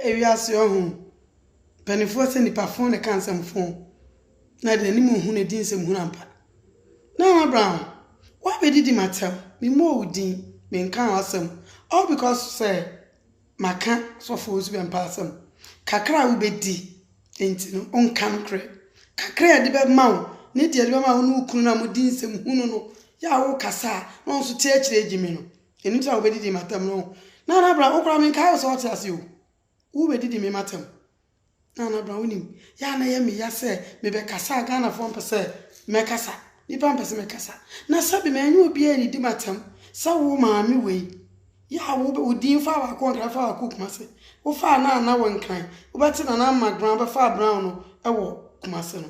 Ewiase ɔho mpanimfoɔ sɛ nipa fo na ɛka nsɛm fo na ɛde n'anim hu na ɛdi nsɛm hunu ampa. Nana Brown, woabɛdidi m'atɛm, memmɔɔ wo din, menkaa w'asɛm, all because sɛ maka sɔfo wo nso bɛmpa asɛm. Kakra a wobɛdi nti no, wonka nokorɛ. Kakra a ɛde bɛma wo ne deɛ ɛde bɛma wo ne wo kunu no a modi nsɛm hunu no yɛ a wokasa a na ɔno nso te akyire gyimi no, Ɛno nti na wobɛdidi m'atɛm no. Nana Bra, wo koraa menkae wo sɛ wote ase o. Wobɛdidi me m'atɛm. Nana Bra, wonim, yɛ a na ɛyɛ me ya sɛ mebɛkasa a Ghanafoɔ mpɛ sɛ mɛkasa. Nnipa mpɛ sɛ mɛkasa. Na sɛbe manyɛ obiara annidi m'atɛm sɛ wo maame wei. Yɛ a wo wo din faa w'ako Nkran faa w'ako Kumase. Wofaa Nana wɔ Nkran. Wobɛte Nana Magran wobɛfaa Brown no wɔ Kumase no.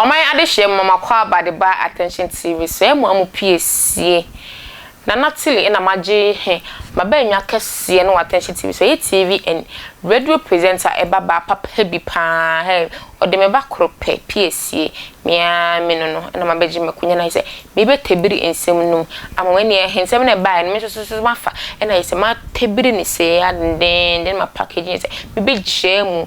Ɔman adehyeɛ mu mama kɔ aba de baa attention TV so ɛmu amu pie sie Nana Tilly ɛna magye he mabaanwa kɛseɛ no wɔ attention TV so ɛyɛ TV and radio presenter ɛba baa papa bi paa hɛɛ ɔde me ba koro pɛ pie sie me aa me no no ɛna mabɛgye makunya na ayɛsɛ meebɛ tɛbiri nsɛm no mu ama wo ɛneɛ he nsɛm no a ɛbaeɛ no me nso so so mafa ɛna ayɛsɛ matɛbiri no sei aa dendeenden ma package no ayɛsɛ mebɛgyaa mu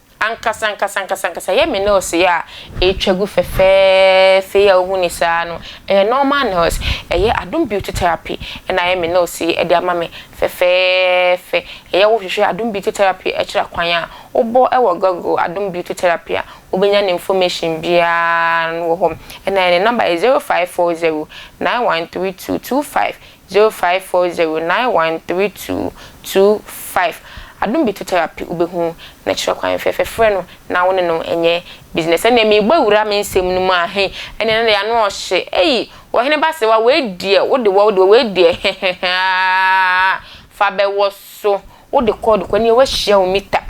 Ankasa ankasa ankasa ankasa yɛ me nails yi a ɛretwa gu fɛfɛɛfɛ yi a wohu no saa no, ɛyɛ normal nails. Ɛyɛ Adom Beauty Therapy na ayɛ me nails yi de ama me fɛfɛɛfɛ. Ɛyɛ a wohwehwɛ Adom Beauty Therapy kyerɛ kwan a, wobɔ wɔ Google Adom Beauty Therapy a, wobɛnya ne information biara wɔ hɔ. Na ne number yɛ zero five four zero nine one three two two five Zero five four zero nine one three two two five Adom Bitu Therapy wobɛhu ne kyerɛ kwan fɛfɛ frɛ no na wo ne no nyɛ business ɛnneɛ merebɔ awura me nsɛm no mu a he ɛnneɛ no deɛ ano ɔhye ei Ɔhene Basewa wei deɛ wo de wɔ wo de wɔ wei deɛ heheheaaaa fa bɛwɔ so wo de kɔ wo de kɔ ɛnneɛ woahyia wo mita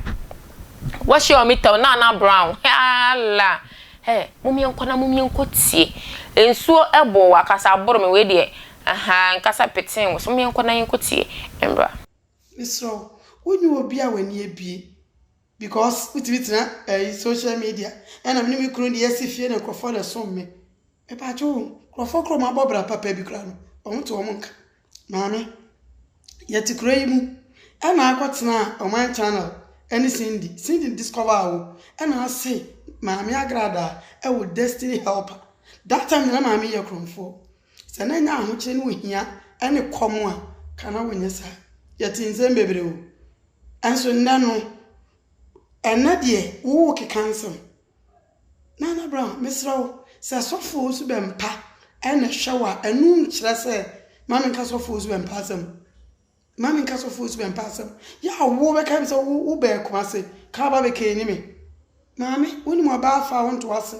woahyia wo mita o Nana Brown heala hɛ momyɛnkɔ na momyɛnkɔ tie nsuo ɛbɔ wɔ akasa aboro me wei deɛ Ahaa nkasa petee wo so mo yɛnkɔ na yɛnkɔ tie mmra. Mesrɛ wo, wo nyɛ obi a w'ani abue because wo tumi tena ɛyi social media ɛna me ne me kunu de yɛsi fie na nkorɔfoɔ na ɛsom me. Mepaakye wo, nkorɔfoɔ koro a wɔn abɔ bra papa bi koraa no wɔn to wɔn nka. Maame, yɛte kuro yi mu ɛna akɔ tenaa ɔman channel ɛne Cindy, Cindy discover wo ɛna ase Maame Agradaa ɛwɔ destiny helper. That time na maame yɛ korɔmfoɔ. Sɛ na nya ahokyere ne ohia ne kɔm a, ka na wonyɛ saa. Yɛtee nsɛm bebree o. Nso nnɛ no, ɛnnɛ deɛ wowo keka nsɛm. Nana Brown, mesrɛ wo, sɛ sɔfoɔ nso bɛmpa na ɛhwɛ wo a, ɛno nkyerɛ sɛ, ma menka sɔfoɔ nso bɛmpa asɛm. Mma menka sɔfoɔ su mpa asɛm. Yɛ a wo bɛkae me sɛ wo bɛɛ Kumase ka aba bɛ kɛɛ ni me. Maame wo nim ɔbaa afaa wo ntoa se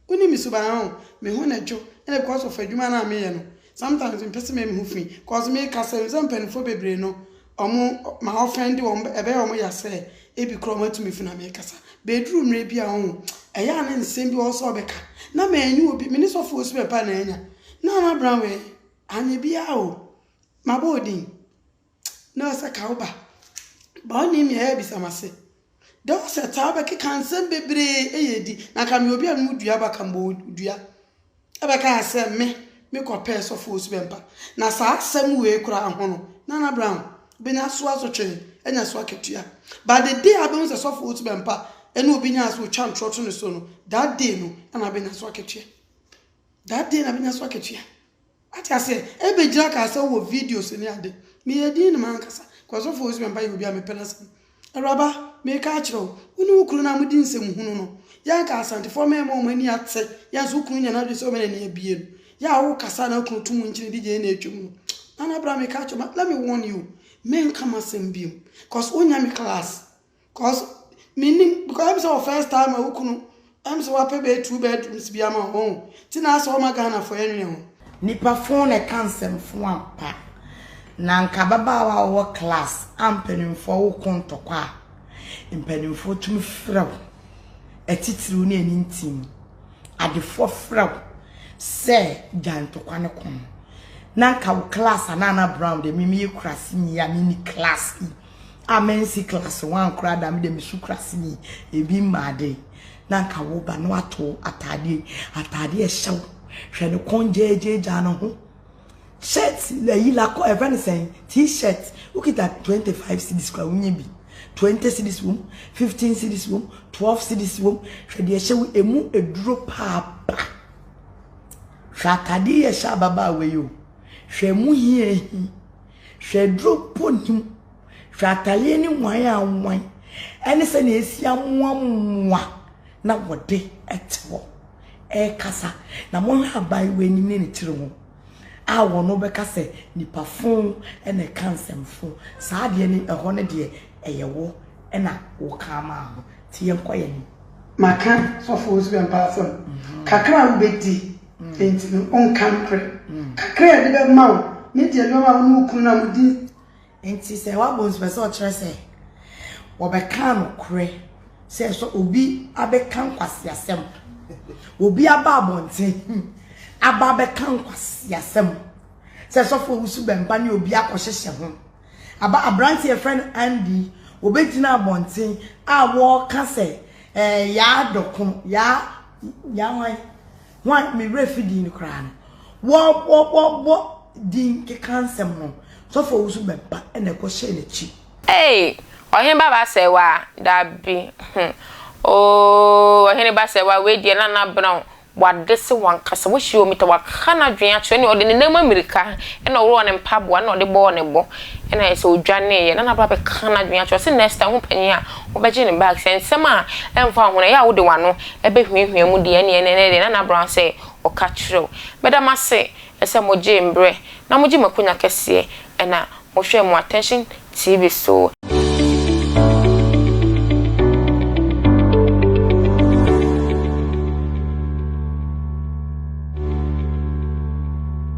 wo nim me suban ho me ho na dwo ɛna because of adwuma no a me yɛ no sometimes me pɛ se me yɛ me ho fi cause me ka sɛ me sɛ mpaninfoɔ bebree no ɔmo ma offend wɔn ɛbɛyɛ ɔmo ya sɛ ebi kora ɔmo atu me fi na me kasa bɛduru mmerɛ bi a ho ɛyɛ a ne nsɛm bi ɔwɔ sɛ ɔbɛka na mɛnyi obi me ne sɔfoɔ su bɛpa na anya na na bra wɛɛ anyɛ biara o. Mabɔ wo din, na ɔsɛ ka wo ba. Ba ɔnim nea ɛyɛ bisa m'ase. Dɛ wo sɛ taa bɛkeka nsɛm bebree ɛyɛ adi. Na ka meyɛ obi a memu dua ba ka mbɔ wo dua. Ɛbɛka yɛ sɛ me, me kɔ pɛɛ sɔfo osu bɛmpa. Na saa asɛm wei koraa ho no, Nana Brown, wobɛnya so asotwee, anya so akatua. But the day a wobɛhu sɛ sɔfo osu bɛmpa ɛne obi nyaa so otwa ntorɔ to ne so no, that day no na wabɛnya so akatua. That day na wabɛnya so akatua. Wate aseɛ? Ɛbɛgyina kaa sɛ wowɔ videos ne ade. Meyɛ dinn ne m'ankasa. Because ɔfo ɔsi mɛmpa yɛ obi a mepɛ n'asɛm. Awuraba, meka akyerɛ wo, wo ne wo kunu no a modi nsɛm hunu no, yɛ anka Asantefoɔ mɛɛma wɔn ani ate, yɛ nso wo kunu nya n'adwene sɛ ɔbɛ n'ani abie no, yɛ a wokasa a na wo kunu to mu nkyene di gyeene atwam no. Nana bra meka akyerɛ wo, let me warn you, menka m'asɛm biom. Because wonnya me class. Cause menim because ɛm sɛ wɔ first time a wo kunu ɛm sɛ wapɛ bɛyɛ two bedrooms bi ama ho ti na asɛ ɔma Ghana fo ɛnwene ho. Nipa fon na ɛka nsɛm fo ampa na anka ababaawa a ɔwɔ class a mpanimfoɔ wo ko ntɔkwa a mpanimfoɔ tumi frɛ wo atitiriw ne ani ntim adefoɔ frɛ wo sɛ gya ntɔkwa ne ko no na anka wo class a na ana brown de mimi yɛ kurase ni a mini class yi a mansi class one koraa da me de me su kura sini ebi mmaa de na nka wo ba no ato ataadeɛ ataadeɛ ɛhyɛ wo hwɛ ne kɔn gyaagyaagyaa ne ho shirt ayi lakɔ ɛfɛ ne sɛn t-shirt wokita twenty five cedis kura wonye bi twenty cedis wom fifteen cedis wom twelve cedis wom hwɛ deɛ ɛhyɛ wo emu eduro paapa hwɛ ataadeɛ yɛ hyɛ ababaawa yi o hwɛ emu hiahi. Hwɛ aduro mpo nni mu. Hwɛ ataleɛ ne nwan a nwan ɛne sɛdeɛ ɛsi amoa mmoa na wɔde ɛte hɔ ɛkasa. Na mohwɛ aban wei anim ne ne tiri ho a wɔn bɛka sɛ nipa fon ɛna ɛka nsɛm fon. Saa adeɛ ne ɛhɔ ne deɛ ɛyɛ wo ɛna wo ka ama ho. Ti yɛn kɔ yɛn anim. Maka sɔfo Owusu Bempah asɛm kakra a wobɛdi. Enti no, ɔnka nokorɛ. Kakra a yɛde bɛma wo ne deɛ nneɛma a wo ne wo kunu no a modi. Enti sɛ wabɔ nsu pɛ sɛ ɔkyerɛ sɛ wɔbɛka nokorɛ sɛ sɛ obi abɛka nkwaseasɛm, obi aba abɔnten hmm, aba abɛka nkwaseasɛm sɛ sɔfo owusu bɛmba ne obi akɔhyehyɛ ho aba aberante yɛfrɛ no Andy wɔbɛgyina abɔnten a wɔka sɛ eh, yaa dɔko yaa Yɛn hwan? Hwan? Me werɛ fi din no koraa no. Wɔ wɔ wɔ wɔ din keka nsɛm no. Sɔfo a ɔwusu bɛba na ɛkɔ hyɛ n'akyi. Ei! Ɔhene ba Basewa? Dabi. Hum. Ooh, Ɔhene Basewa, wei deɛ na na Brown w'ade se w'ankasa. Woahyia omi ta, w'aka n'adwene akyerɛ ne ɔde ne nan mu amirika na ɔworɔɔ ne mpaboa na ɔde bɔɔ ne bo na ayɛ sɛ ɔdwaneeɛ na na Brown bɛka n'adwene akyerɛ ɔse next time ho panyin a Wobɛgye no back sɛ nsɛm a ɛmfa wo ho no ɛyɛ a wode w'ano bɛhuahua mu deɛ ɛneɛ ɛnɛ ɛneɛ deɛ Nana Brown sɛ ɔka kyerɛ wo. Meda mo ase sɛ mogyee mberɛ na mogye m'akonya kɛseɛ ɛna mohwɛɛ mo Attention TV so.